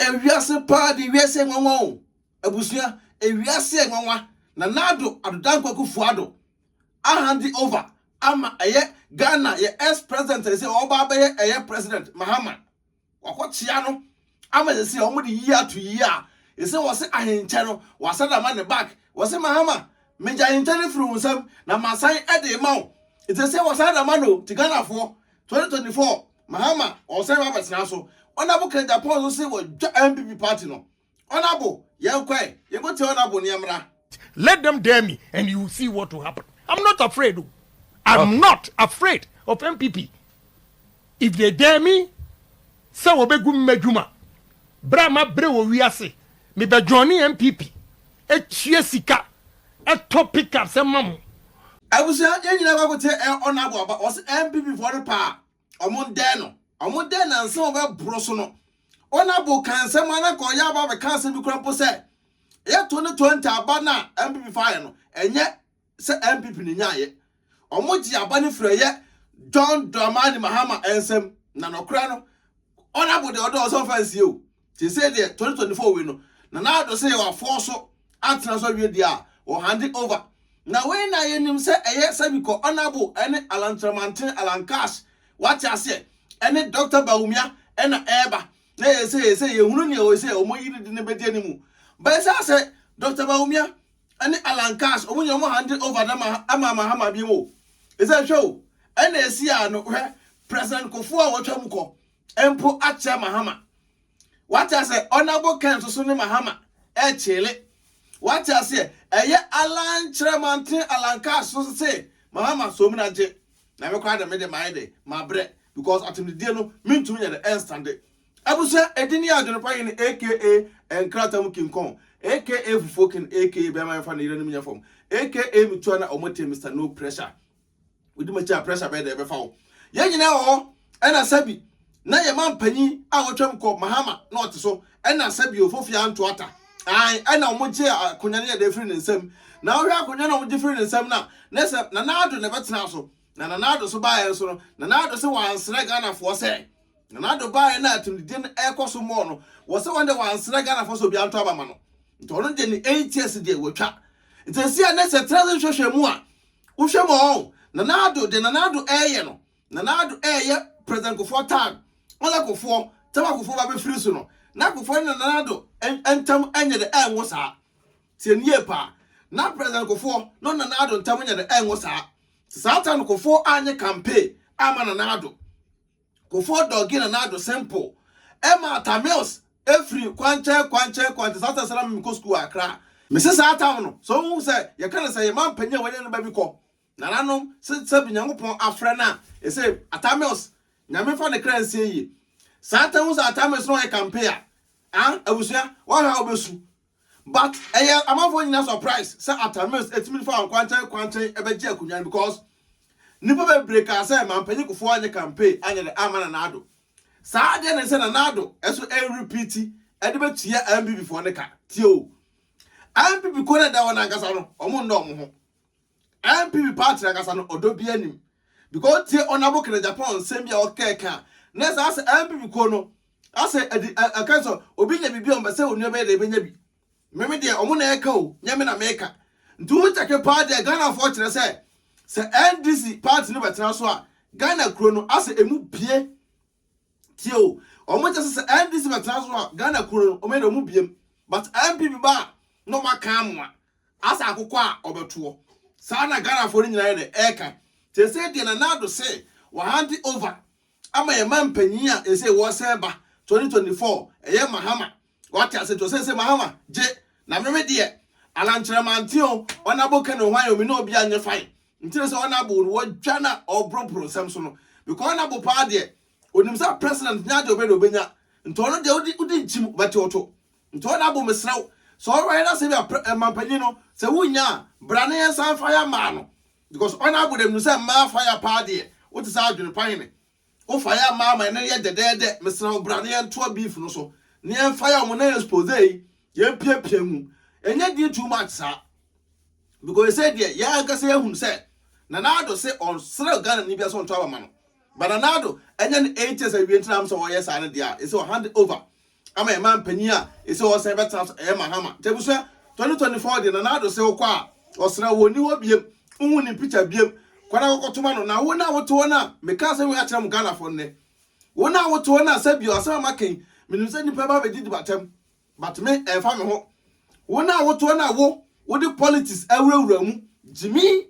Ewiase paa de wiase nwanwa o abusua ewiase nwanwa nanado adodan kwaku fuado ahande over ama ɛyɛ Ghana yɛ ex president a sɛsɛ ɔba abɛyɛ ɛyɛ president mahama wakɔ kyea no ama sɛsɛ ɔmo de yie ato yie a sɛsɛ wɔse ahenkyɛ no wasada ama ne back wɔse mahama megye ahenkyɛ no firi wo nsam na masan ɛde ma wo sɛsɛ wɔsan da ma no ti Ghanafoɔ 2024 Mahama ɔsɛe ba bɛtena so ɔnabo ka Japan so se wɔdwa NPP party no ɔnabo yɛn kɔɛ yɛkɔ tia ɔnabo neɛ mmra. Let them dare me and you see what will happen I'm not afraid o I'm okay. not afraid of NPP if they dare me sɛ wɔbɛgu mmadwuma berɛ a mabrɛ wɔ wiase Me bɛ joine NPP ɛtua sika ɛtɔ pick ups ɛma mo. Abusua yɛn nyinaa kɔ akɔtie Honourable Abah ɔse NPP foɔ no paa ɔmo ndɛɛ no ɔmo dɛɛ no ansa ɔbɛ boro so no Honourable kaa nsɛm a na nka ɔyɛ aba abɛka asɛm bi koraa mpo sɛ yɛ twenty twenty aba no a NPP faeɛ no ɛnyɛ sɛ NPP no nyaeɛ. Ɔmo gyee aba no firi ɛyɛ John Dramani Mahama nsam na nɔkorɛ no Honourable deɛ ɔdɔɔ sɛ ɔmfa nsie o. Seesei deɛ 2024 wei no Nana Addo se wafoɔ so atena so awie deɛ a wɔ hande over. Na wei na yɛnim sɛ ɛyɛ Sabikɔ Honourable ɛne Alan Kyerɛmanten, Alan Cash wate aseɛ, ɛne Doctor Bawumia ɛna ɛɛba. Na yɛn seesei yɛhunu neɛ ɔɔyi sɛ ɔmo ayi no de no bɛdi animu. Bɛɛ saa sɛ Doctor Bawumia. ne Alan Katz ɔmo nyina ɔmo hande over no ma ma Mahama biom o ɛsiane hwɛ o ɛna ɛsi a no hwɛ President Kofo a watwa mu kɔ mpo akyɛ Mahama wate asɛ Honourable Ken nso so ne Mahama ɛkyele wate aseɛ ɛyɛ Alan kyerɛ manten Alan Katz so se Mahama som na gye na me koraa de me de mayɛ de mabrɛ because atemdidie no mentumi nyɛ de ɛnstande Abusua edin yɛ Adwonpa Hene aka Nkrata mu Kinkɔn aka Fufuo Ken aka Bɛɛma Yɛnfa Ne Yerenom Nyɛ Fam aka Metua Na Ɔmo Te Mister No Pressure Wodi M'akyi A Pressure Bɛyɛ Dɛ Ɛbɛfa Wo Yɛn Nyinaa Wɔ Hɔ Ɛna Sɛbi Na Yɛ Man Panyin A Watwam Kɔ Mahama Na Ɔte So Ɛna Sɛbi Ofofia Ntoata Ae Ɛna Ɔmo Gye Akonwa No Yɛ Dɛ Firi Ne Nsam Na Wohwɛ Akonwa No Ɔmo Gye Firi Ne Nsam No A Na Sɛ Nana Addo Na Ɛbɛtena So Na Nana Addo so baeɛ nso no, Nana Addo sɛ wansrɛ Ghanafoɔ sɛ Nana Addo baeɛ na atumdidie no ɛrekɔ so mɔɔ no, wɔ sɛ wɔn deɛ wansrɛ Ghanafoɔ sɛ obiara nto aba ma no. Nti ɔno deɛ ne eight years deɛ watwa. Nti ɛsi a nɛ sɛ tena se hwɛhwɛ mu a, wohwɛ mu ɔn, Nana Addo deɛ Nana Addo ɛreyɛ no, Nana Addo ɛreyɛ President Kufuor tag, ɔsɛ Kufuor, tam a Kufuor ba bɛfiri so no, na Kufuor ne Nana Addo ntam ɛnyɛ dɛ, ɛnwo saa. Tie no yie paa. Ná President Kufuor ne ɔne Nana Addo ntam nyɛ dɛ ngo saa. Sɛ saa time no Kufuor anyɛ campaign amma Nana Addo. Kufuor dɔgee Nana Addo simple. Ɛmaa Tamils firi kwankyɛn kwankyɛn kwankyɛn saa time sɛ na me mekɔ sukuu wɔ Accra. Mese saa time no, sɛ wohu sɛ yɛka no sɛ yɛn manpanin a wɔanya no ba bi kɔ, nananom, se sɛbi Nyankopɔn afrɛ no a, ɛse Atamils, Nyame mfa ne kra nsie yie. Saa time wohu sɛ Atamils ne ɔyɛ campaign a, ah, abusua, woahwɛ a wobɛsu. But ɛyɛ amanfoɔ nyinaa surprise sɛ Atta Mills atumi de fa nkwankyɛn nkwankyɛn ɛbɛgye akonwa no because nnipa bebree kaa sɛ Mampanyin Kufuor anyɛ campaign anyɛ dɛ amma Nana Addo. Saa adeɛ no nsɛ Nana Addo ɛso ɛrerepeati ɛde bɛtua NPP foɔ no ka. Tie o! NPP kuo no a ɛda hɔ no ankasa no wɔn nnɔ wɔn ho. NPP party nankasa no ɔdɔ bia nim because otie honourable Kenneth Agyapong nsɛm bi a ɔkɛɛ ka na ɛsɛ asɛ NPP kuo no asɛ ɛdi ɛka sɛ obi nya biribi a ɔmpɛ sɛ onua bɛyɛ dɛ ɛbɛnya bi meme deɛ ɔmo na ɛka o nyɛ me na meka nti wo kyɛke paa deɛ Ghanafoɔ kyerɛ sɛ sɛ NDC party no bɛtena so a Ghana kuro no asɛ emu bie Tie o, wɔn kyɛ sɛ sɛ NDC bɛtena so a Ghana kuro no wɔn yɛ dɛ wɔn biem but NPP ba a na wɔn aka amoa asɛ akokɔ a wɔbɛtoɔ. Saa na Ghanafoɔ no nyinaa yɛ dɛ ɛreka. Seesei deɛ Nana Addo se wahande over ama yɛn mampanyin a seesei wɔresɛn ba 2024 ɛyɛ Mahama Wate ase nti ɔse se Mahama gye na meme deɛ Anankyerɛ mante o Ɔnabo kɛ no hwan o me ne obia nyɛ fine Nti ne sɛ Ɔnabo no wɔdwa na ɔɔbrompro nsɛm so no Because Ɔnabo paa deɛ onim sɛ president nyɛ adeɛ ɔbɛyɛ na obɛnya Nti ɔno deɛ wode wode nkyim ɔbɛte wo to Nti Ɔnabo mesrɛ wo sɛ ɔbɛyɛ na sɛ bia pre eh mampanyin no sɛ wonnya a bra na yɛnsan fire maa no Because Ɔnabo deɛ menim sɛ mmaa fire paa deɛ wote sɛ adwene pa hene Wo fa yɛ ma ama ne yɛ dɛdɛɛdɛ mesrɛ wo bra na yɛn toa beef no so na yɛn fa yɛ ɔmo na expose yi yɛn pia pia mu ɛnyɛ den too much saa because sɛ deɛ yɛn ankasa yɛ hunu sɛ Nana Addo se ɔnsrɛ Ghana ni bia sɛ ɔnto aba ma no but Nana Addo ɛnyɛ no eight years awie ntina am sɛ ɔyɛ saa no deɛ a ɛsɛ ɔ hand over ama yɛn man panyin a ese ɔresan bɛtena so ɛyɛ Mahama nti abusua twenty twenty four deɛ Nana Addo se wokɔ a ɔsra wo ɔnni hɔ biem nhu ne picture biem kɔ na kɔkɔ toma no na wo na wote hɔ no a meka asɛm wei akyerɛ mo Ghanafoɔ nnɛ wo na wote hɔ no a sɛbio asɛm a maka yi menim sɛ nnipa ba bɛdidi batam but me ɛmfa me ho wo na wote hɔ no a wo wode politics awurawura mu gyimi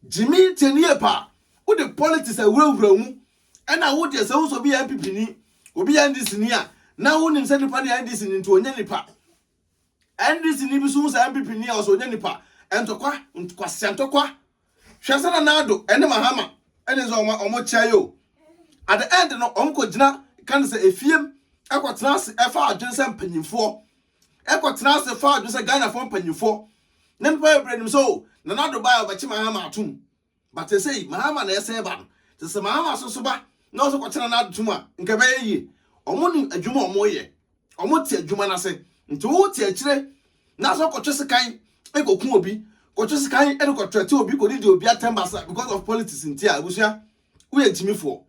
Gyimii tie ne yie paa. Wode politics awurawura mu ɛna wo deɛ sɛ wohu sɛ obi yɛ NPP ni, obi yɛ NDC ni a, na wonim sɛ nipa no yɛ NDC ni nti ɔnyɛ nipa. NDC ni bi so hu sɛ NPP ni a ɔsɛ ɔnyɛ nipa. Ntɔkwa, nkwasia ntɔkwa. Hwɛ sɛ na Nado ɛne Mahama ɛne sɛ ɔmo ɔmo kyɛ yɛ o. At the end no ɔmo kɔ gyina kan sɛ efiem ɛkɔ tena ase ɛfa adwene sɛ mpanyinfoɔ. Ɛkɔ tena ase fa adwene sɛ Ghana foɔ mpanyinfoɔ ne nnipa bebree nim sɛ oh Nana Addo baeɛ ɔbɛkye Mahama atom but sɛsɛi Mahama na ɛsɛn ba no nti sɛ Mahama so nso ba na ɔsɛ kɔkye Nana Addo tom a nka ɛbɛyɛ yie ɔmo nim adwuma ɔmo yɛ ɔmo te adwuma no ase nti wo te akyire na sɛ kɔtwe sekan ɛkɔku obi kɔtwe sekan ɛde kɔtrɛte obi kɔdidi obi atɛm basa because of politics nti a abusua woyɛ nkyimifoɔ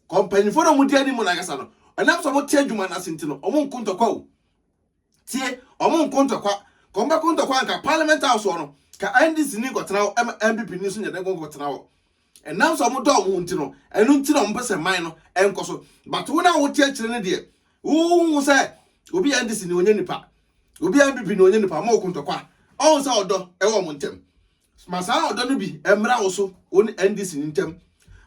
kɔ mpanyinfoɔ na wɔn di anim no ankasa no ɛnam sɛ wɔn te adwuma no ase nti no wɔn nko ntɔkwa o tie wɔn nko ntɔkwa kɔn bɛ ko ntɔkwa nka parliament house wɔ no ka ndc ni nkɔtena hɔ ɛma npp ni nso nyɛ dɛ nkɔtena hɔ ɛnam sɛ wɔn dɔ wɔn ho nti no ɛno nti na wɔn pɛ sɛ man no ɛnkɔ so but wɔn a wɔte akyire no deɛ wɔn ho sɛ obi yɛ ndc ni wɔnyɛ nipa obi yɛ npp ni wɔnyɛ nipa wɔn nko ntɔkwa ɔn sɛ ɔdɔ ɛwɔ wɔn ntɛm. Ma saa ɔdɔ no bi mmra wo so wo ne NDC no ntam.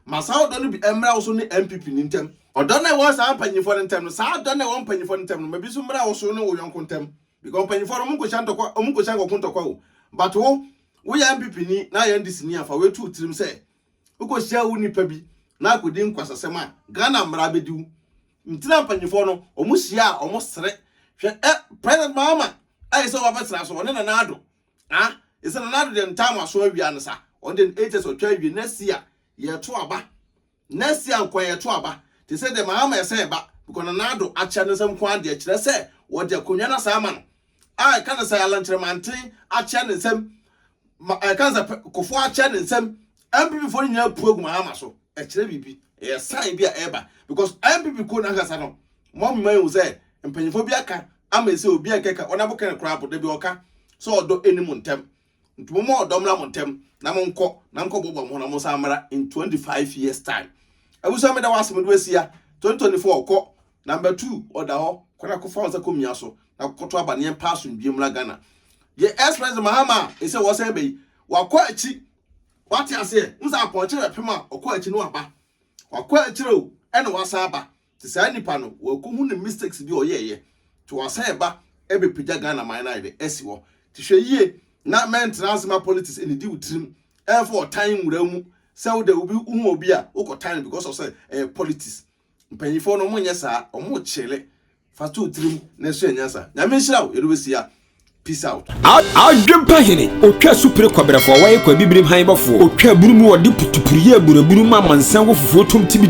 Ma saa ɔdɔ no bi mmra wo so ne NPP no ntam. Ɔdɔ no a ɛwɔ saa mpanyimfoɔ no ntam no, saa ɔdɔ no a ɛwɔ mpanyimfoɔ no ntam no, ma bi nso mmra wo so ne wo yɔnko ntam. Because mpanyimfoɔ no, wɔnkohyia ntɔkwa, wɔnkohyia nkɔko ntɔkwa o. But wo, woyɛ NPP ni na ayɛ NDC ni a, fa wei to wo tirim sɛ, wokɔhyia wo nipa bi na akɔdi nkwasasɛm a, Ghana mmara abɛdi wo. Nti na mpanyimfoɔ no, wɔhyia a, wɔsere. Hwɛ ɛ, President Mahama a yɛsɛ wɔabɛtra so, ɔne Nana Addo, Ah ese nana ado dem time aso awia no sa ɔno dem ei kyerɛ sɛ ɔtwa awie next year yɛto aba next year nkoa yɛto aba te sɛ dem ama ɛsɛ ɛba because nana ado akyɛ no nsam nkoa deɛ kyerɛ sɛ wɔde akonwa no asan ama no a ɛka ne sɛ alankyerɛ manten akyɛ ne nsam ma ɛka ne sɛ kofo akyɛ ne nsam NPP foɔ no nyinaa pue gu Mahama so, ɛkyerɛ biribi, ɛyɛ sign bi a ɛreba because NPP kuo no ankasa no moa moma yɛhu sɛ mpanyinfoɔ bi aka ama ɛsɛ obi a nkɛka wɔn abo kɛne koraa po da bi ɔka sɛ ɔdɔ ɛni mo ntɛm nti moma ɔdɔ mmra mo ntɛm na mo nkɔ na mkɔ bɔbɔ mo ho na mo san mmra in 25 years time abusua meda wase mede wasia 2024 kɔ number 2 ɔda hɔ kɔ na kɔfa wɔn sɛ kɔ mia so na kɔkɔto aba neɛ mpa asomdwie mmra Ghana deɛ ɛsprɛs Mahama a ɛsɛ wɔsɛn bɛyi wakɔ akyi Wate aseɛ? Wohu sɛ apɔnkye bɛpem a ɔkɔ akyi no aba. Wakɔ akyire o, ɛna wasan aba. Nti saa nipa no, wakɔhu ne mistakes bi a ɔyɛɛyɛ. Nti wasan ɛba ɛbɛpagya Ghana man no ayɛ dɛ? Asi hɔ. Nti hwɛ yie na mɛntena ase ma politics ɛnidi wo tirim. Ɛmfa ɔtan nwura wo mu. Sɛ wodɛ obi, wohu obi a, wokɔ tan no because of sɛ ɛyɛ politics. Mpanyinfoɔ no ɔmo nyɛ saa ɔmo kyele fa to tirim na ɛsua nyansa nyame nhyira wo yɛde bɛsi ya peace out. Adwempa hene ɔtwa supire kɔberɛfoɔ wɔyɛ kɔ abibirim han bɔfoɔ ɔtwa bunu mu ɔde putupuruyɛ aburaburu ma amansan wɔ fufuo tom tibidi.